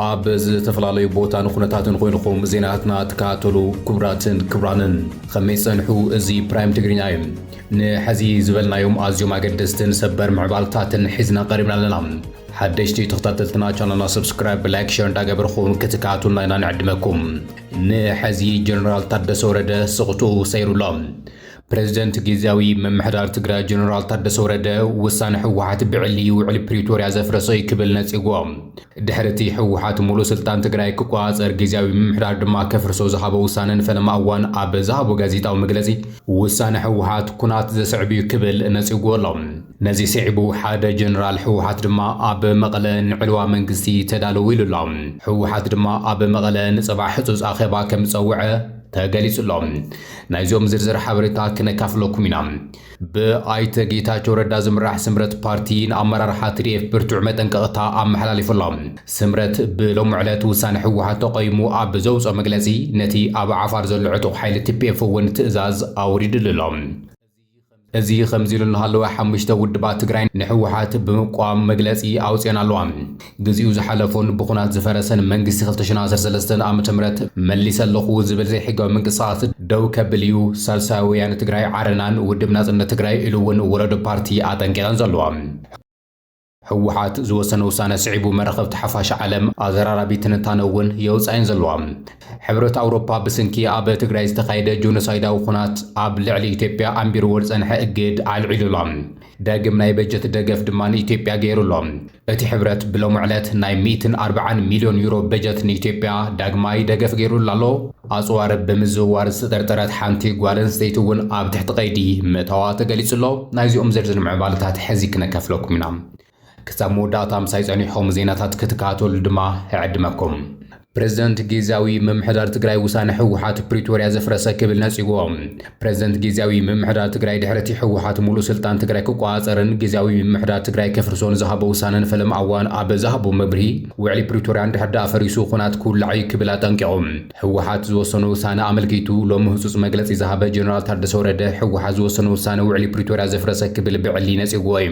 ኣብ ዝተፈላለዩ ቦታን ኩነታትን ኮይንኹም ዜናትና ትከታተሉ ክቡራትን ክቡራንን ከመይ ጸንሑ? እዚ ፕራይም ትግርኛ እዩ። ንሐዚ ዝበልናዮም ኣዝዮም ኣገደስትን ሰበር ምዕባልታትን ሒዝና ቀሪብና ኣለና። ሓደሽቲ ተኸታተልትና ቻናልና ሰብስክራይብ፣ ላይክ፣ ሸር እንዳገበርኹም ክትከታተሉና ኢና ንዕድመኩም። ንሐዚ ጀነራል ታደሰ ወረደ ስቕትኡ ሰይሩ ኣሎ። ፕረዚደንት ጊዚያዊ ምምሕዳር ትግራይ ጀነራል ታደሰ ወረደ ውሳነ ህወሓት ብዕሊ ውዕሊ ፕሪቶርያ ዘፍረሰ እዩ ክብል ነጺጉዎ። ድሕሪ እቲ ህወሓት ሙሉእ ስልጣን ትግራይ ክቆፃፀር ጊዚያዊ ምምሕዳር ድማ ከፍርሶ ዝሃቦ ውሳነ ንፈለማ እዋን ኣብ ዝሃቦ ጋዜጣዊ መግለጺ ውሳነ ህወሓት ኩናት ዘስዕብ እዩ ክብል ነጺጉዎ ኣሎ። ነዚ ስዒቡ ሓደ ጀነራል ህወሓት ድማ ኣብ መቐለ ንዕልዋ መንግስቲ ተዳለዉ ኢሉ ኣሎ። ህወሓት ድማ ኣብ መቐለ ንፅባሕ ህፁፅ ኣኼባ ከም ዝፀውዐ ተገሊፁ ኣሎ። ናይዞም ዝርዝር ሓበሬታ ክነካፍለኩም ኢና። ብኣይተ ጌታቸው ረዳ ዝምራሕ ስምረት ፓርቲ ንኣመራርሓ ትዲኤፍ ብርቱዕ መጠንቀቕታ ኣመሓላሊፉ ኣሎ። ስምረት ብሎሚ ዕለት ውሳነ ህወሓት ተቐይሙ ኣብ ዘውፅኦ መግለፂ ነቲ ኣብ ዓፋር ዘሎ ዕጡቕ ሓይሊ ቲፒኤፍ እውን ትእዛዝ ኣውሪድሉ ኣሎ። እዚ ከምዚ ኢሉ እናሃለወ ሓሙሽተ ውድባት ትግራይ ንሕወሓት ብምቋም መግለፂ ኣውፅኤን ኣለዋ። ግዚኡ ዝሓለፎን ብኹናት ዝፈረሰን መንግስቲ ክልተ ሽሕን ዓሰርተ ሰለስተን ዓመተ ምህረት መሊሰ ኣለኹ ዝብል ዘይሕጋዊ ምንቅስቓስ ደው ከብል እዩ ሳልሳይ ወያነ ትግራይ ዓረናን ውድብ ናፅነት ትግራይ ኢሉ እውን ወለዶ ፓርቲ ኣጠንቂቐን ዘለዋ። ህወሓት ዝወሰነ ውሳነ ስዒቡ መራኸብቲ ሓፋሽ ዓለም ኣዘራራቢ ትንታነ እውን የውፅኣ እየን ዘለዋ። ሕብረት ኣውሮፓ ብስንኪ ኣብ ትግራይ ዝተኻየደ ጆኖሳይዳዊ ኹናት ኣብ ልዕሊ ኢትዮጵያ ኣንቢርዎ ዝፀንሐ እግድ ኣልዒሉ ኣሎ። ዳግም ናይ በጀት ደገፍ ድማ ንኢትዮጵያ ገይሩ ኣሎ። እቲ ሕብረት ብሎሚ ዕለት ናይ ሚእትን ኣርብዓን ሚልዮን ዩሮ በጀት ንኢትዮጵያ ዳግማይ ደገፍ ገይሩላ ኣሎ። ኣጽዋር ብምዝውዋር ዝተጠርጠረት ሓንቲ ጓል ኣንስተይቲ እውን ኣብ ትሕቲ ቀይዲ ምእታዋ ተገሊጹ ኣሎ። ናይዚኦም ዝርዝር ምዕባለታት ሕዚ ክነካፍለኩም ኢና። ክሳብ መወዳእታ ምሳይ ጸኒሕኹም ዜናታት ክትከታተሉ ድማ እዕድመኩም። ፕረዚደንት ጊዝያዊ ምምሕዳር ትግራይ ውሳነ ህወሓት ፕሪቶርያ ዘፍረሰ ክብል ነጺግዎ። ፕረዚደንት ጊዚያዊ ምምሕዳር ትግራይ ድሕሪ'ቲ ህወሓት ሙሉእ ስልጣን ትግራይ ክቆፃፀርን ጊዚያዊ ምምሕዳር ትግራይ ከፍርሶን ዝሃቦ ውሳነን ፈለማ እዋን ኣብ ዝሃቦ መብርሂ ውዕሊ ፕሪቶርያ እንድሕር ደኣ ፈሪሱ ኹናት ክውላዕ እዩ ክብል ኣጠንቂቑ። ህወሓት ዝወሰኖ ውሳነ ኣመልኪቱ ሎሚ ህፁፅ መግለፂ ዝሃበ ጀነራል ታደሰ ወረደ ህወሓት ዝወሰኖ ውሳነ ውዕሊ ፕሪቶርያ ዘፍረሰ ክብል ብዕሊ ነፂጉዎ እዩ።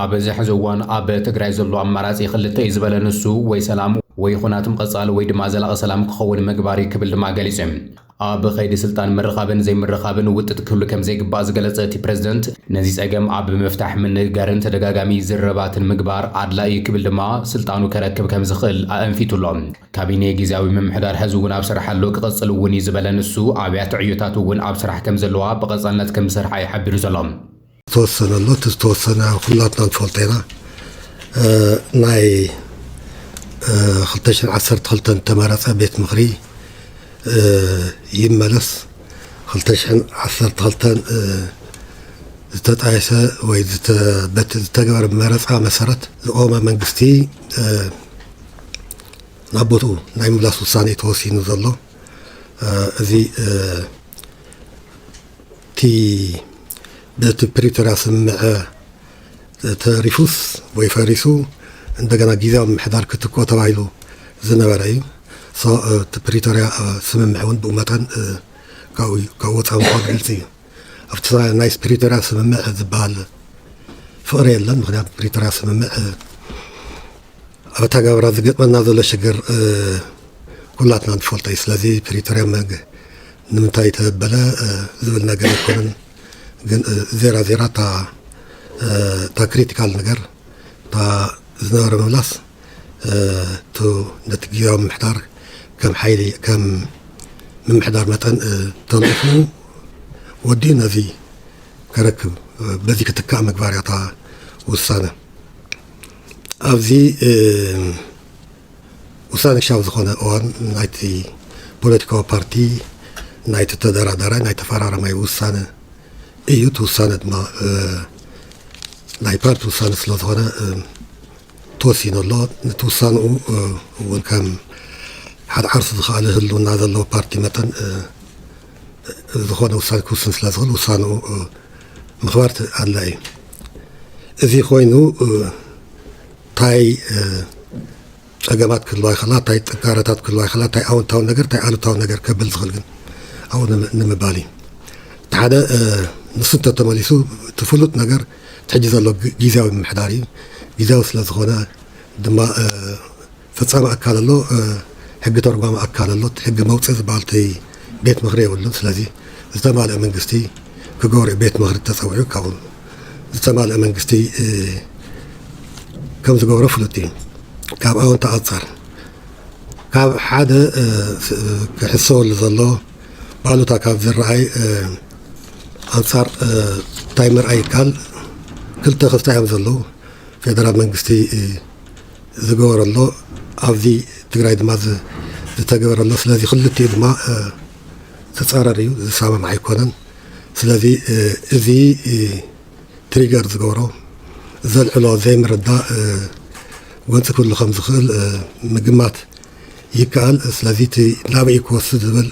ኣብዚ ሕዚ እዋን ኣብ ትግራይ ዘሎ ኣማራፂ ክልተ እዩ ዝበለ ንሱ ወይ ሰላም ወይ ኹናት ምቕፃል ወይ ድማ ዘላቒ ሰላም ክኸውን ምግባር እዩ ክብል ድማ ገሊፁ እዩ። ኣብ ኸይዲ ስልጣን ምርኻብን ዘይምርኻብን ውጥጥ ክህሉ ከምዘይግባእ ዝገለፀ እቲ ፕረዚደንት ነዚ ፀገም ኣብ ምፍታሕ ምንግጋርን ተደጋጋሚ ዝርርባትን ምግባር ኣድላዪ እዩ ክብል ድማ ስልጣኑ ከረክብ ከምዝኽእል ኣእንፊቱ ኣሎ። ካቢኔ ጊዚያዊ ምምሕዳር ሕዚ እውን ኣብ ስራሕ ኣሎ ክቕፅል እውን እዩ ዝበለ ንሱ ኣብያተ ዕዮታት እውን ኣብ ስራሕ ከምዘለዋ ብቐፃልነት ከምዝሰርሓ እዩ ሓቢሩ ዘሎ። ዝተወሰነ ኣሎ እቲ ዝተወሰነ ኩላትና ንፈልጦ ኢና ናይ 212 ተመረፀ ቤት ምክሪ ይመለስ 212 ዝተጣየሰ ወይ በቲ ዝተገበረ መረፃ መሰረት ዝቆመ መንግስቲ ናብ ቦትኡ ናይ ምላስ ውሳኔ ተወሲኑ ዘሎ እዚ እቲ በቲ ፕሪቶርያ ስምምዐ ተሪፉስ ወይ ፈሪሱ እንደገና ጊዜያዊ ምምሕዳር ክትክኦ ተባሂሉ ዝነበረ እዩ። ሶ እቲ ፕሪቶርያ ስምምዐ እውን ብኡ መጠን ካብኡ ካብ ወፃኢ ምኳኑ ግልፂ እዩ። ኣብቲ ናይ ፕሪቶርያ ስምምዕ ዝበሃል ፍቕሪ የለን። ምክንያቱ ፕሪቶርያ ስምምዕ ኣብ ኣተገባብራ ዝገጥመና ዘሎ ሽግር ኩላትና ንፈልጦ እዩ። ስለዚ ፕሪቶርያ ንምንታይ ተበለ ዝብል ነገር ኣይኮነን። ግን ዜራ ዜራ እታ ክሪቲካል ነገር እታ ዝነበረ ምምላስ ነቲ ግዜያዊ ምምሕዳር ከም ሓይሊ ከም ምምሕዳር መጠን ተንቑፍኑ ወዲኡ ነዚ ከረክብ በዚ ክትካእ ምግባር እያ እታ ውሳነ ኣብዚ ውሳነሻዊ ዝኾነ እዋን ናይቲ ፖለቲካዊ ፓርቲ ናይቲ ተደራዳራይ ናይ ተፈራራማይ ውሳነ እዩ እቲ ውሳነ ድማ ናይ ፓርቲ ውሳነ ስለ ዝኾነ ተወሲኑ ኣሎ ነቲ ውሳንኡ እውን ከም ሓደ ዓርሱ ዝኸኣለ ህልውና ዘለዎ ፓርቲ መጠን ዝኾነ ውሳነ ክውስን ስለ ዝኽእል ውሳንኡ ምኽባር ኣድላይ እዩ እዚ ኮይኑ ታይ ፀገማት ክህልዋ ይኽእላ ታይ ጥንካረታት ክህልዋ ይኽእላ ታይ ኣወንታዊ ነገር ታይ ኣሉታዊ ነገር ከብል ዝኽእል ግን ኣብኡ ንምባል እዩ እቲ ሓደ ንሱ እንተተመሊሱ እቲ ፍሉጥ ነገር እቲ ሕጂ ዘሎ ግዜያዊ ምምሕዳር እዩ ግዜያዊ ስለ ዝኾነ ድማ ፈጻሚ ኣካል ኣሎ ሕጊ ተርጓሚ ኣካል ኣሎ እቲ ሕጊ መውጽኢ ዝበሃል እቲ ቤት ምኽሪ የብሉን ስለዚ ዝተማልእ መንግስቲ ክገብሩ እዩ ቤት ምኽሪ ተጸዊዑ ካብኡ ዝተማልእ መንግስቲ ከም ዝገብሮ ፍሉጥ እዩ ካብ ኣወንታ ኣንጻር ካብ ሓደ ክሕሰበሉ ዘሎ ባሉታ ካብ ዝረኣይ ኣንጻር እንታይ ምርኣይ ይከኣል ክልተ ክስታ እዮም ዘለዉ ፌደራል መንግስቲ ዝገበረ ኣሎ ኣብዚ ትግራይ ድማ ዝተገበረ ኣሎ ስለዚ ክልቲኡ ድማ ዝፃረር እዩ ዝሳማማዕ ኣይኮነን ስለዚ እዚ ትሪገር ዝገብሮ ዘልዕሎ ዘይምርዳእ ጎንፂ ክህሉ ከም ዝኽእል ምግማት ይከኣል ስለዚ እቲ ናበይ ክወስድ ዝብል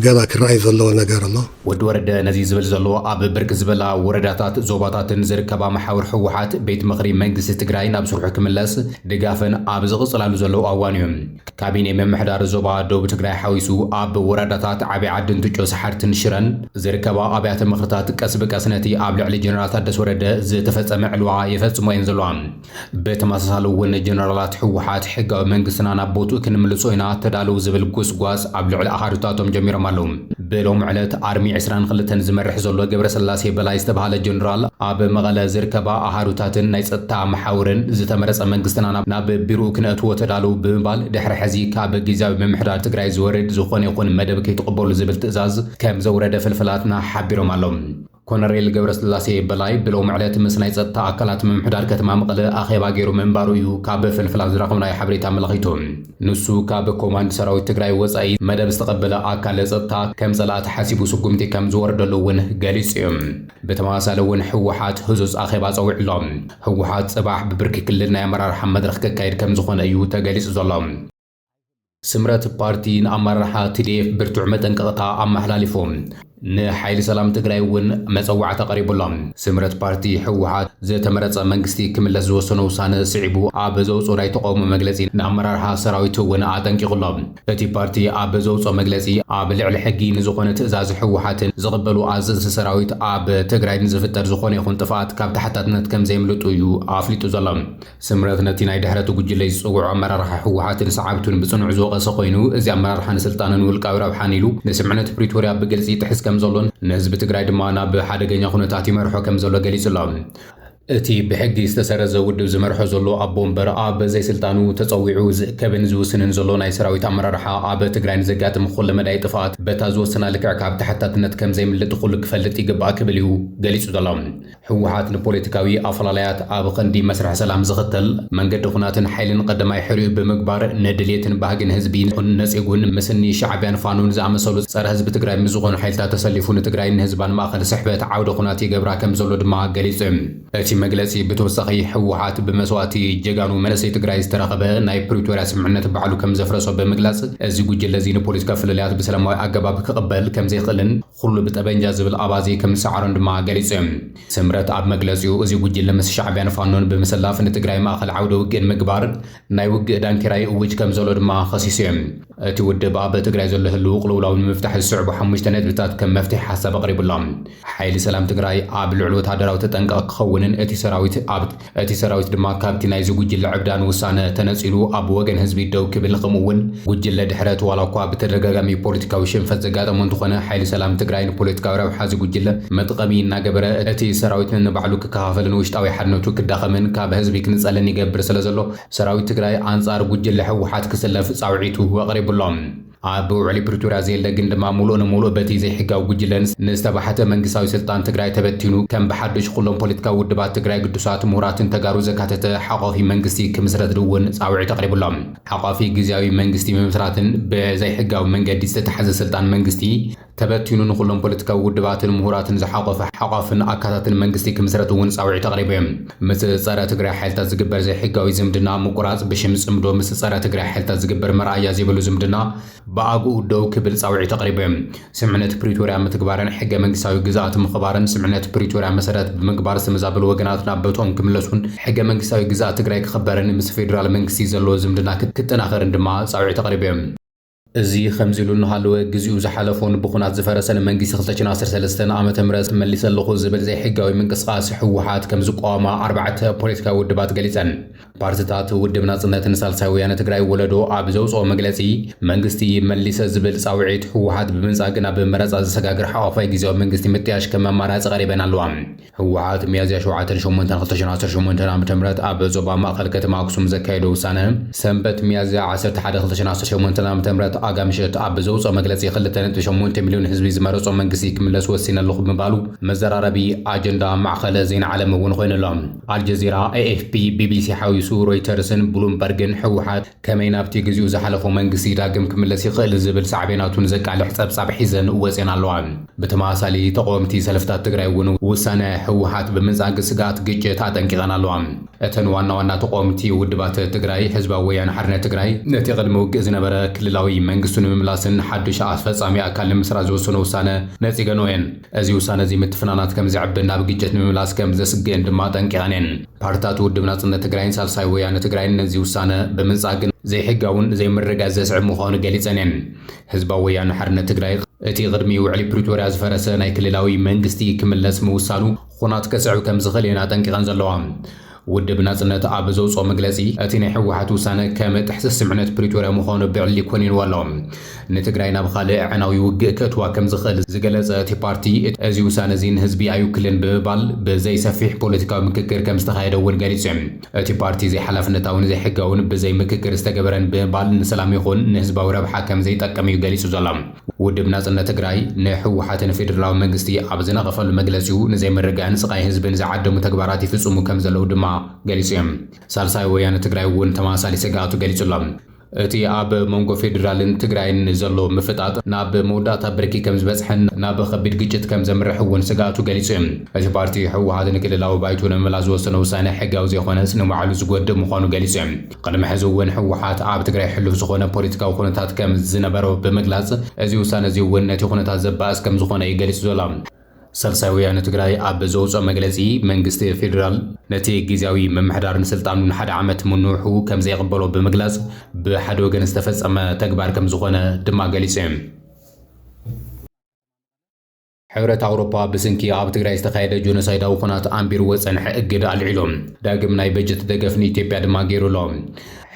ገና ክረኣይ ዘለዎ ነገር ኣሎ። ወዲ ወረደ ነዚ ዝብል ዘሎ ኣብ ብርክ ዝበላ ወረዳታት ዞባታትን ዝርከባ መሓውር ህወሓት ቤት ምኽሪ መንግስቲ ትግራይ ናብ ስርሑ ክምለስ ድጋፈን ኣብ ዝቕፅላሉ ዘለዉ ኣዋን እዩ። ካቢኔ ምምሕዳር ዞባ ደቡብ ትግራይ ሓዊሱ ኣብ ወረዳታት ዓብይ ዓዲ እንትጮ ሰሓርትን ሽረን ዝርከባ ኣብያተ ምኽርታት ቀስ ብቀስ ነቲ ኣብ ልዕሊ ጀነራል ታደሰ ወረደ ዝተፈፀመ ዕልዋ የፈፅሞ'የን ዘለዋ። ብተመሳሳሊ እውን ጀነራላት ህወሓት ሕጋዊ መንግስትና ናብ ቦትኡ ክንምልሶ ኢና ተዳለዉ ዝብል ጎስጓስ ኣብ ልዕሊ ኣሃዱታቶም ጀሚሮም ኣለዉ። ብሎሚ ዕለት ኣርሚ ዕስራን ክልተን ዝመርሕ ዘሎ ገብረስላሴ በላይ ዝተብሃለ ጀነራል ኣብ መቐለ ዝርከባ ኣሃዱታትን ናይ ፀጥታ መሓውርን ዝተመረፀ መንግስትና ናብ ቢርኡ ክነእትዎ ተዳለዉ ብምባል ድሕሪ ሕዚ ካብ ጊዚያዊ ምምሕዳር ትግራይ ዝወርድ ዝኾነ ይኹን መደብ ከይትቕበሉ ዝብል ትእዛዝ ከምዘውረደ ፍልፍላትና ሓቢሮም ኣለዉ። ኮነሬል ገብረስላሴ በላይ ብሎሚ ዕለት ምስ ናይ ጸጥታ ኣካላት ምምሕዳር ከተማ መቐለ ኣኼባ ገይሩ ምንባሩ እዩ ካብ ፍልፍላት ዝረኸብናዮ ሓበሬታ ኣመላኺቱ። ንሱ ካብ ኮማንድ ሰራዊት ትግራይ ወጻኢ መደብ ዝተቐበለ ኣካል ጸጥታ ከም ጸላእቲ ሓሲቡ ስጉምቲ ከም ዝወርደሉ እውን ገሊጹ እዩ። ብተመሳሳሊ እውን ህወሓት ህጹጽ ኣኼባ ጸዊዑ ኣሎ። ህወሓት ጽባሕ ብብርኪ ክልል ናይ ኣመራርሓ መድረኽ ከካይድ ከም ዝኾነ እዩ ተገሊጹ ዘሎ። ስምረት ፓርቲ ንኣመራርሓ ቲዲኤፍ ብርቱዕ መጠንቀቕታ ኣመሓላሊፉ። ንሓይሊ ሰላም ትግራይ እውን መጸዋዕታ ቀሪቡሎም። ስምረት ፓርቲ ህወሓት ዝተመረጸ መንግስቲ ክምለስ ዝወሰኖ ውሳነ ስዒቡ ኣብ ዘውጽኦ ናይ ተቓውሞ መግለጺ ንኣመራርሓ ሰራዊት እውን ኣጠንቂቑ ኣሎ። እቲ ፓርቲ ኣብ ዘውጽኦ መግለጺ ኣብ ልዕሊ ሕጊ ንዝኾነ ትእዛዝ ህወሓትን ዝቕበሉ ኣዘዝቲ ሰራዊት ኣብ ትግራይ ንዝፍጠር ዝኾነ ይኹን ጥፍኣት ካብ ተሓታትነት ከምዘየምልጡ እዩ ኣፍሊጡ ዘሎ። ስምረት ነቲ ናይ ድሕረቲ ጉጅለ ዝጸውዖ ኣመራርሓ ህወሓትን ሰዓብቱን ብጽኑዕ ዝወቐሰ ኮይኑ፣ እዚ ኣመራርሓ ንስልጣንን ውልቃዊ ረብሓን ኢሉ ንስምምዕነት ፕሪቶርያ ብግልጺ ይጥሕስ ከምዘሎን ንህዝቢ ትግራይ ድማ ናብ ሓደገኛ ኩነታት ይመርሖ ከምዘሎ ገሊጹ'ሎ። እቲ ብሕጊ ዝተሰረዘ ውድብ ዝመርሖ ዘሎ ኣቦ ወንበር ኣብ ዘይስልጣኑ ተጸዊዑ ዝእከብን ዝውስንን ዘሎ ናይ ሰራዊት ኣመራርሓ ኣብ ትግራይ ንዘጋጥም ኩለመዳይ ጥፍኣት በታ ዝወሰና ልክዕ ካብ ተሓታትነት ከምዘይምልጥ ኩሉ ክፈልጥ ይግባእ ክብል እዩ ገሊጹ ዘሎ። ህወሓት ንፖለቲካዊ ኣፈላላያት ኣብ ኸንዲ መስርሕ ሰላም ዝኽተል መንገዲ ኹናትን ሓይልን ቐደማይ ሕሪኡ ብምግባር ንድልየትን ባህግን ህዝቢ ይኹን ነጼጉን ምስኒ ሻዕቢያን ፋኖን ዝኣመሰሉ ፀረ ህዝቢ ትግራይ ምስ ዝኾኑ ሓይልታት ተሰሊፉ ንትግራይን ንህዝባን ማእኸል ስሕበት ዓውደ ኹናት ይገብራ ከም ዘሎ ድማ ገሊፁ። እቲ መግለፂ ብተወሳኺ ህወሓት ብመስዋእቲ ጀጋኑ መንእሰይ ትግራይ ዝተረኸበ ናይ ፕሪቶርያ ስምምዕነት ባዕሉ ከም ዘፍረሶ ብምግላፅ እዚ ጉጅለ እዚ ንፖለቲካዊ ፍልልያት ብሰላማዊ ኣገባብ ክቕበል ከም ዘይኽእልን ኹሉ ብጠበንጃ ዝብል ኣባዜ ከም ዝሰዓሮን ድማ ገሊጹ እዩ። ስምረት ኣብ መግለጺኡ፣ እዚ ጉጅለ ምስ ሻዕቢያን ፋኖን ብምስላፍ ንትግራይ ማእኸል ዓውደ ውግእ ንምግባር ናይ ውግእ ዳንኬራ ይእውጅ ከም ዘሎ ድማ ኸሲሱ እዩ። እቲ ውድብ ኣብ ትግራይ ዘሎ ህልዊ ቕልውላው ንምፍታሕ ዝስዕቡ ሓሙሽተ ነጥብታት ከም መፍትሒ ሓሳብ ኣቕሪቡ ኣሎ። ሓይሊ ሰላም ትግራይ ኣብ ልዑል ወተሃደራዊ ተጠንቀቕ ክኸውንን እቲ ሰራዊት ኣብ። እቲ ሰራዊት ድማ ካብቲ ናይዚ ጉጅለ ዕብዳን ውሳነ ተነጺሉ ኣብ ወገን ህዝቢ ደው ክብል ከምኡ እውን ጉጅለ ድሕረት ዋላ እኳ ብተደጋጋሚ ፖለቲካዊ ሽንፈት ዘጋጠሞ እንተኾነ ሓይሊ ሰላም ትግራይ ንፖለቲካዊ ረብሓ እዚ ጉጅለ መጥቐሚ እናገበረ እቲ ሰራዊት ነንባዕሉ ክከፋፈልን ውሽጣዊ ሓድነቱ ክዳኸምን ካብ ህዝቢ ክንጸልን ይገብር ስለዘሎ ሰራዊት ትግራይ ኣንጻር ጉጅለ ህወሓት ክስለፍ ጻውዒቱ ኣቕሪቡ ኣሎ። ኣብ ውዕሊ ፕሪቶርያ ዘየለ ግን ድማ ሙሉእ ንሙሉእ በቲ ዘይሕጋዊ ጉጅለን ንዝተባሕተ መንግስታዊ ስልጣን ትግራይ ተበቲኑ ከም ብሓዱሽ ኹሎም ፖለቲካዊ ውድባት ትግራይ ግዱሳት ሙሁራትን ተጋሩ ዘካተተ ሓቋፊ መንግስቲ ክምስረት እውን ፃውዒት ኣቕሪቡ ኣሎ። ሓቋፊ ግዝያዊ መንግስቲ ምምስራትን ብዘይሕጋዊ መንገዲ ዝተታሕዘ ስልጣን መንግስቲ ተበቲኑ ንኹሎም ፖለቲካዊ ውድባትን ምሁራትን ዝሓቖፈ ሓቋፍን ኣካታትን መንግስቲ ክምስረት እውን ፃውዒት ኣቕሪቡ እዩ። ምስ ፀረ ትግራይ ሓይልታት ዝግበር ዘይሕጋዊ ዝምድና ምቁራፅ ብሽም ፅምዶ ምስ ፀረ ትግራይ ሓይልታት ዝግበር መርኣያ ዘይብሉ ዝምድና ብኣግኡ ደው ክብል ፃውዒት ኣቕሪቡ እዩ። ስምምዕነት ፕሪቶርያ ምትግባርን ሕገ መንግስታዊ ግዝኣት ምኽባርን ስምምዕነት ፕሪቶርያ መሰረት ብምግባር ዝተመዛበሉ ወገናት ናብ ቦትኦም ክምለሱን ሕገ መንግስታዊ ግዝኣት ትግራይ ክኽበርን ምስ ፌዴራል መንግስቲ ዘለዎ ዝምድና ክጠናኸርን ድማ ፃውዒት ኣቕሪቡ እዩ። እዚ ከምዚሉ እናሃለወ ግዚኡ ዝሓለፎን ብኹናት ዝፈረሰን መንግስቲ ክልተ ሽሕን ዓሰርተ ሰለስተን ዓመተ ምህረት መሊሰ ኣለኹ ዝብል ዘይሕጋዊ ምንቅስቓስ ህወሓት ከምዝቋወማ ኣርባዕተ ፖለቲካዊ ውድባት ገሊፀን። ፓርቲታት ውድብ ናፅነትን ሳልሳይ ወያነ ትግራይ ወለዶ ኣብ ዘውፅኦ መግለፂ መንግስቲ መሊሰ ዝብል ፃውዒት ህወሓት ብምንፃግ ናብ መረፃ ዘሰጋግር ሓቋፋይ ግዚያዊ መንግስቲ ምጥያሽ ከም ኣማራፂ ቀሪበን ኣለዋ። ህወሓት ሚያዝያ ሸውዓተን ሸሞንተን ክልተ ሺህ ዓሰርተ ሸሞንተ ዓመተ ምህረት ኣብ ዞባ ማእኸል ከተማ ኣክሱም ዘካየዶ ውሳነ ሰንበት ሚያዝያ ዓሰርተ ሓደ ክልተ ሺህ ዓሰርተ ሸሞንተ ዓመተ ምህረት ኣጋ ምሸት ኣብ ዘውፅኦ መግለፂ ክልተ ነጥቢ ሸሞንተ ሚልዮን ህዝቢ ዝመረፆ መንግስቲ ክምለስ ወሲነ ኣለኹ ምባሉ መዘራረቢ ኣጀንዳ ማዕኸለ ዜና ዓለም እውን ኮይኑ ኣሎ። ኣልጀዚራ፣ ኤኤፍፒ፣ ቢቢሲ ሓዊሱ ሮይተርስን ብሉምበርግን ህወሓት ከመይ ናብቲ ግዚኡ ዝሓለፎ መንግስቲ ዳግም ክምለስ ይኽእል ዝብል ሳዕቤናቱ ንዘቃልሕ ጸብጻብ ሒዘን ወጺኣን ኣለዋ። ብተመሳሳሊ ተቐወምቲ ሰልፍታት ትግራይ እውን ውሳነ ህወሓት ብምንጻግ ስግኣት ግጭት ኣጠንቂቐን ኣለዋ። እተን ዋና ዋና ተቐወምቲ ውድባት ትግራይ፣ ህዝባዊ ወያነ ሓርነት ትግራይ ነቲ ቅድሚ ውግእ ዝነበረ ክልላዊ መንግስቱ ንምምላስን ሓዱሽ ኣስፈጻሚ ኣካል ንምስራት ዝወሰኖ ውሳነ ነጺገንኦ እየን። እዚ ውሳነ'ዚ ምትፍናናት ከም ዘዕብን ናብ ግጭት ንምምላስ ከም ዘስግእን ድማ ኣጠንቂቐን እየን። ፓርትታት ውድብ ናጽነት ትግራይን ሳልሳይ ወያነ ትግራይን ነዚ ውሳነ ብምንጻግ ግን፣ ዘይሕጋውን ዘይምርግጋእ ዘስዕብ ምዃኑ ገሊጸን እየን። ህዝባዊ ወያነ ሓርነት ትግራይ፣ እቲ ቅድሚ ውዕሊ ፕሪቶርያ ዝፈረሰ ናይ ክልላዊ መንግስቲ ክምለስ ምውሳኑ ኹናት ከስዕብ ከም ዝኽእል እየን ኣጠንቂቐን ዘለዋ። ውድብ ናጽነት ኣብ ዘውጽኦ መግለጺ፣ እቲ ናይ ህወሓት ውሳነ ከም ጥሕሰት ስምምዕነት ፕሪቶርያ ምዃኑ ብዕሊ ኮኒንዎ ኣሎ። ንትግራይ ናብ ኻልእ ኣዕናዊ ውግእ ከእትዋ ከም ዝኽእል ዝገለጸ እቲ ፓርቲ፣ እዚ ውሳነ'ዚ ንህዝቢ ኣይውክልን ብምባል ብዘይ ሰፊሕ ፖለቲካዊ ምክክር ከም ዝተኻየደ እውን ገሊጹ። እቲ ፓርቲ ዘይሓላፍነታውን ዘይሕጋውን ብዘይ ምክክር ዝተገበረን ብምባል ንሰላም ይኹን ንህዝባዊ ረብሓ ከም ዘይጠቅም እዩ ገሊጹ ዘሎ። ውድብ ናጽነት ትግራይ፣ ንህወሓት ን ፌደራላዊ መንግስቲ ኣብ ዝነቐፈሉ መግለጺኡ፣ ንዘይምርግጋእን ስቓይ ህዝብን ዝዓደሙ ተግባራት ይፍጽሙ ከም ዘለዉ ድማ ገሊጹ እዩ። ሳልሳይ ወያነ ትግራይ እውን ተመሳሳሊ ስግኣቱ ገሊጹ ኣሎ። እቲ ኣብ መንጎ ፌደራልን ትግራይን ዘሎ ምፍጣጥ ናብ መወዳእታ ብርኪ ከም ዝበጽሐን ናብ ከቢድ ግጭት ከም ዘምርሕ እውን ስግኣቱ ገሊጹ እዩ። እቲ ፓርቲ፣ ህወሓት ንክልላዊ ባይቶ ንምምላስ ዝወሰኖ ውሳነ ሕጋዊ ዘይኮነስ ንባዕሉ ዝጎድእ ምዃኑ ገሊጹ እዩ። ቕድሚ ሕዚ እውን ህወሓት ኣብ ትግራይ ሕሉፍ ዝኾነ ፖለቲካዊ ኩነታት ከም ዝነበሮ ብምግላፅ እዚ ውሳነ እዚ እውን ነቲ ኩነታት ዘባእስ ከም ዝኾነ እዩ ገሊፁ ዘሎ። ሳልሳይ ወያነ ትግራይ ኣብ ዘውፅኦ መግለፂ መንግስቲ ፌዴራል ነቲ ጊዚያዊ ምምሕዳር ንስልጣኑ ንሓደ ዓመት ምንውሑ ከም ዘይቕበሎ ብምግላፅ ብሓደ ወገን ዝተፈፀመ ተግባር ከም ዝኾነ ድማ ገሊፁ እዩ። ሕብረት ኣውሮፓ ብስንኪ ኣብ ትግራይ ዝተኻየደ ጆኖሳይዳዊ ኩናት ኣንቢርዎ ዝጸንሐ እገዳ ኣልዒሉ ዳግም ናይ በጀት ደገፍ ንኢትዮጵያ ድማ ገይሩ ኣሎ።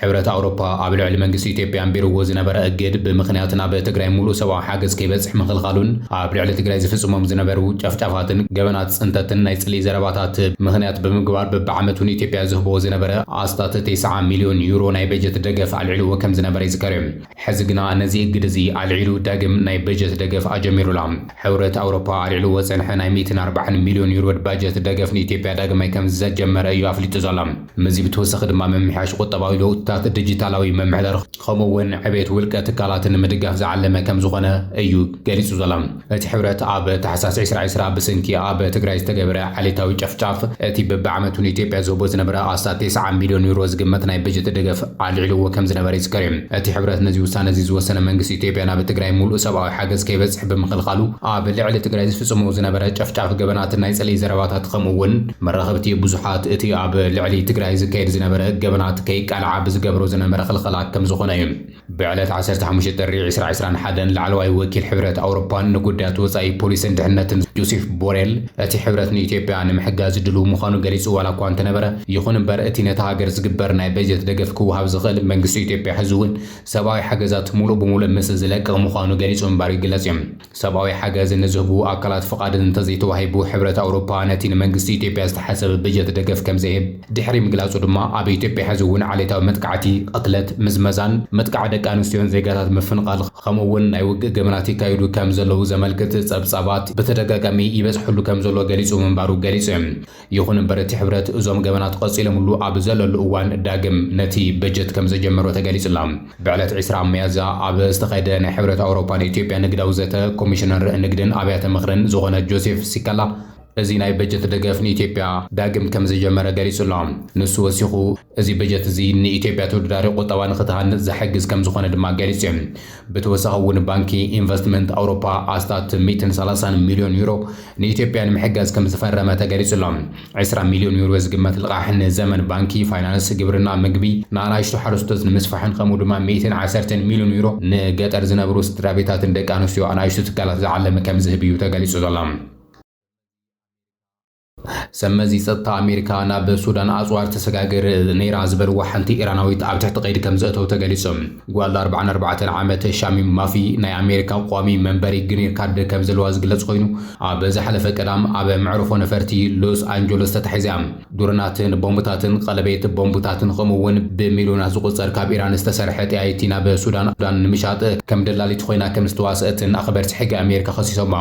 ሕብረት ኣውሮፓ ኣብ ልዕሊ መንግስቲ ኢትዮጵያ ኣንቢርዎ ዝነበረ እግድ ብምኽንያት ናብ ትግራይ ሙሉእ ሰብኣዊ ሓገዝ ከይበጽሕ ምኽልኻሉን ኣብ ልዕሊ ትግራይ ዝፍጽሞም ዝነበሩ ጨፍጫፋትን ገበናት ጽንተትን ናይ ጽልኢ ዘረባታት ምኽንያት ብምግባር በብዓመቱ ንኢትዮጵያ ዝህቦ ዝነበረ ኣስታት ተስዓ ሚልዮን ዩሮ ናይ በጀት ደገፍ ኣልዒልዎ ከምዝነበረ ይዝከር እዩ። ሕዚ ግና ነዚ እግድ እዚ ኣልዒሉ ዳግም ናይ በጀት ደገፍ ኣጀሚሩ ኣሎ። ሕብረት ኣውሮፓ ኣልዒልዎ ዝጸንሐ ናይ ሚእትን ኣርባዓን ሚልዮን ዩሮድ ባጀት ደገፍ ንኢትዮጵያ ዳግማይ ከም ዘጀመረ እዩ ኣፍሊጡ ዘሎ። ምስዚ ብተወሳኺ ድማ ምምሕያሽ ቁጠባዊ ለውጥታት፣ ዲጂታላዊ ምምሕዳር ከምኡ እውን ዕቤት ውልቀ ትካላት ንምድጋፍ ዝዓለመ ከም ዝኾነ እዩ ገሊጹ ዘሎ። እቲ ሕብረት ኣብ ታሕሳስ ዕስራ ዕስራ ብስንኪ ኣብ ትግራይ ዝተገበረ ዓሌታዊ ጨፍጫፍ እቲ በብዓመቱ ንኢትዮጵያ ዝህቦ ዝነበረ ኣስታት ቴስዓ ሚልዮን ዩሮ ዝግመት ናይ በጀት ደገፍ ኣልዒልዎ ከምዝነበረ ይዝከር እዩ። እቲ ሕብረት ነዚ ውሳነ እዚ ዝወሰነ መንግስቲ ኢትዮጵያ ናብ ትግራይ ሙሉእ ሰብኣዊ ሓገዝ ከይበፅሕ ብምኽልኻሉ ኣብ ልዕሊ ትግራይ ዝፍፅሞ ዝነበረ ጨፍጫፍ ገበናትን ናይ ፅልኢ ዘረባታት ኸምኡ እውን መራኸብቲ ብዙሓት እቲ ኣብ ልዕሊ ትግራይ ዝካየድ ዝነበረ ገበናት ከይቃልዓ ብዝገብሮ ዝነበረ ኽልኸላ ከምዝኾነ እዩ። ብዕለት ዓሰርተ ሓሙሽተ ጥሪ ዕስራ ዕስራን ሓደን ላዕለዋይ ወኪል ሕብረት ኣውሮፓን ንጉዳያት ወጻኢ ፖሊስን ድሕነትን ጆሴፍ ቦሬል እቲ ሕብረት ንኢትዮጵያ ንምሕጋዝ ድሉው ምዃኑ ገሊጹ ዋላ እኳ እንተነበረ ይኹን እምበር እቲ ነታ ሃገር ዝግበር ናይ በጀት ደገፍ ክወሃብ ዝኽእል መንግስቲ ኢትዮጵያ ሕዚ'ውን ሰብኣዊ ሓገዛት ሙሉእ ብሙሉእ ምስ ዝለቅቕ ምዃኑ ገሊጹ ምንባሩ ይግለጽ'ዩ። ሰብኣዊ ሓገዝ ንዝህቡ ኣካላት ፍቓድ እንተዘይተዋሂቡ ሕብረት ኣውሮፓ ነቲ ንመንግስቲ ኢትዮጵያ ዝተሓሰበ በጀት ደገፍ ከምዘይህብ ድሕሪ ምግላጹ ድማ ኣብ ኢትዮጵያ ሕዚ እውን ዓሌታዊ መጥቃዕቲ፣ ቕትለት፣ ምዝመዛን ምጥቃዕ ደቂ ኣንስትዮን ዜጋታት ምፍንቓል ኸምኡ እውን ናይ ውግእ ገበናት ይካየዱ ከምዘለዉ ዘመልክት ጸብጻባት ብተደጋጋሚ ይበጽሕሉ ከምዘሎ ገሊጹ ምንባሩ ገሊጹ። ይኹን እምበር እቲ ሕብረት እዞም ገበናት ቐፂሎምሉ ኣብ ዘለሉ እዋን ዳግም ነቲ በጀት ከምዘጀመሮ ተገሊፁ'ላ። ብዕለት ዕስራ ሚያዝያ ኣብ ዝተኻየደ ናይ ሕብረት ኣውሮፓ ንኢትዮጵያ ንግዳዊ ዘተ ኮሚሽነር ንግድን ኣብያተ ምኽርን ዝኾነ ጆሴፍ ሲካላ እዚ ናይ በጀት ደገፍ ንኢትዮጵያ ዳግም ከምዘጀመረ ገሊፁ'ሎ። ንሱ ወሲኹ እዚ በጀት እዚ ንኢትዮጵያ ተወዳዳሪ ቁጠባ ንኽትሃንፅ ዝሕግዝ ከምዝኾነ ድማ ገሊፆም። ብተወሳኺ እውን ባንኪ ኢንቨስትመንት ኣውሮፓ ኣስታት ሚእትን ሰላሳን ሚሊዮን ዩሮ ንኢትዮጵያ ንምሕጋዝ ከምዝፈረመ ተገሊፁ ኣሎ። ዕስራ ሚሊዮን ዩሮ ዝግመት ልቓሕ ንዘመን ባንኪ፣ ፋይናንስ፣ ግብርና፣ ምግቢ፣ ንኣናእሽቱ ሓረስቶት ንምስፋሕን ከምኡ ድማ ሚእትን ዓሰርተን ሚሊዮን ዩሮ ንገጠር ዝነብሩ ስድራቤታትን ደቂ ኣንስትዮ ኣናእሽቱ ትካላት ዝዓለመ ከምዝህብ እዩ ተገሊፁ ዘሎ። ሰብመዚ ጸጥታ ኣሜሪካ ናብ ሱዳን ኣጽዋር ተሰጋግር ነይራ ዝበልዋ ሓንቲ ኢራናዊት ኣብ ትሕቲ ቀይዲ ከምዘእተው ተገሊጹ። ጓል ኣርብዓን ኣርባዕተን ዓመት ሻሚም ማፊ ናይ ኣሜሪካ ቋሚ መንበሪ ግሪን ካርድ ከምዘለዋ ዝግለጽ ኮይኑ፣ ኣብ ዝሓለፈ ቀዳም ኣብ መዕርፎ ነፈርቲ ሎስ ኣንጆሎስ ተታሒዛ። ድሮናትን ቦምብታትን፣ ቀለቤት ቦምብታትን ከምኡ'ውን ብሚልዮናት ዝቑጸር ካብ ኢራን ዝተሰርሐ ጠያይቲ ናብ ሱዳን ንምሻጥ ከም ደላሊት ኮይና ከምዝተዋስኣትን ኣኽበርቲ ሕጊ ኣሜሪካ ከሲሶማ።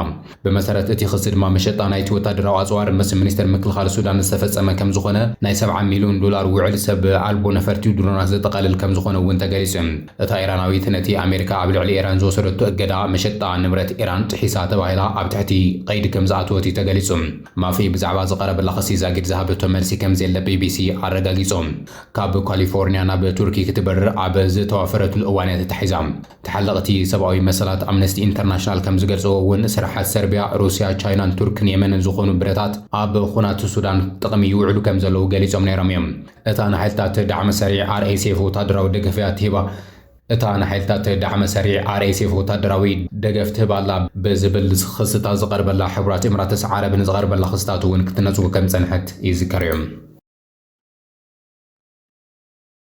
ብመሰረት እቲ ክሲ ድማ መሸጣ ናይቲ ወታደራዊ ኣጽዋር ምስ ሚኒስተር ምክልኻል ሱዳን ዝተፈጸመ ከምዝኾነ፣ ናይ ሰብዓ ሚልዮን ዶላር ውዕል ሰብ ኣልቦ ነፈርቲ ድሮናት ዘጠቓልል ከምዝኾነ እውን ተገሊጹ። እታ ኢራናዊት ነቲ ኣሜሪካ ኣብ ልዕሊ ኢራን ዝወሰደቶ እገዳ፣ መሸጣ ንብረት ኢራን ጥሒሳ ተባሂላ ኣብ ትሕቲ ቀይዲ ከምዝኣተወት እዩ ተገሊጹ። ማፊ ብዛዕባ ዝቐረበላ ክሲ ዛጊድ ዝሃበቶ መልሲ ከምዘየለ ቢቢሲ ኣረጋጊጹ። ካብ ካሊፎርንያ ናብ ቱርኪ ክትበርር ኣብ ዝተዋፈረትሉ እዋን እያ ተታሒዛ። ተሓለቕቲ ሰብኣዊ መሰላት ኣምነስቲ ኢንተርናሽናል ከም ዝገልጽዎ እውን ስራሓት ሰርቢያ፣ ሩስያ፣ ቻይናን ቱርክን የመንን ዝኾኑ ብረታት ኣብ ኹናት ሱዳን ጥቕሚ ይውዕሉ ከም ዘለዉ ገሊጾም ነይሮም እዮም። እታ ንሓይልታት ዳዕመ ሰሪዕ RSF ወታደራዊ ደገፍ እያ እትህባ። እታ ንሓይልታት ዳዕመ ሰሪዕ RSF ወታደራዊ ደገፍ ትህብ ኣላ ብዝብል ኽስታት ዝቐርበላ ሕቡራት ኢምራትስ ዓረብ ንዝቐርበላ ኽስታት እውን ክትነጽጎ ከም ዝጸንሐት ይዝከር እዩ።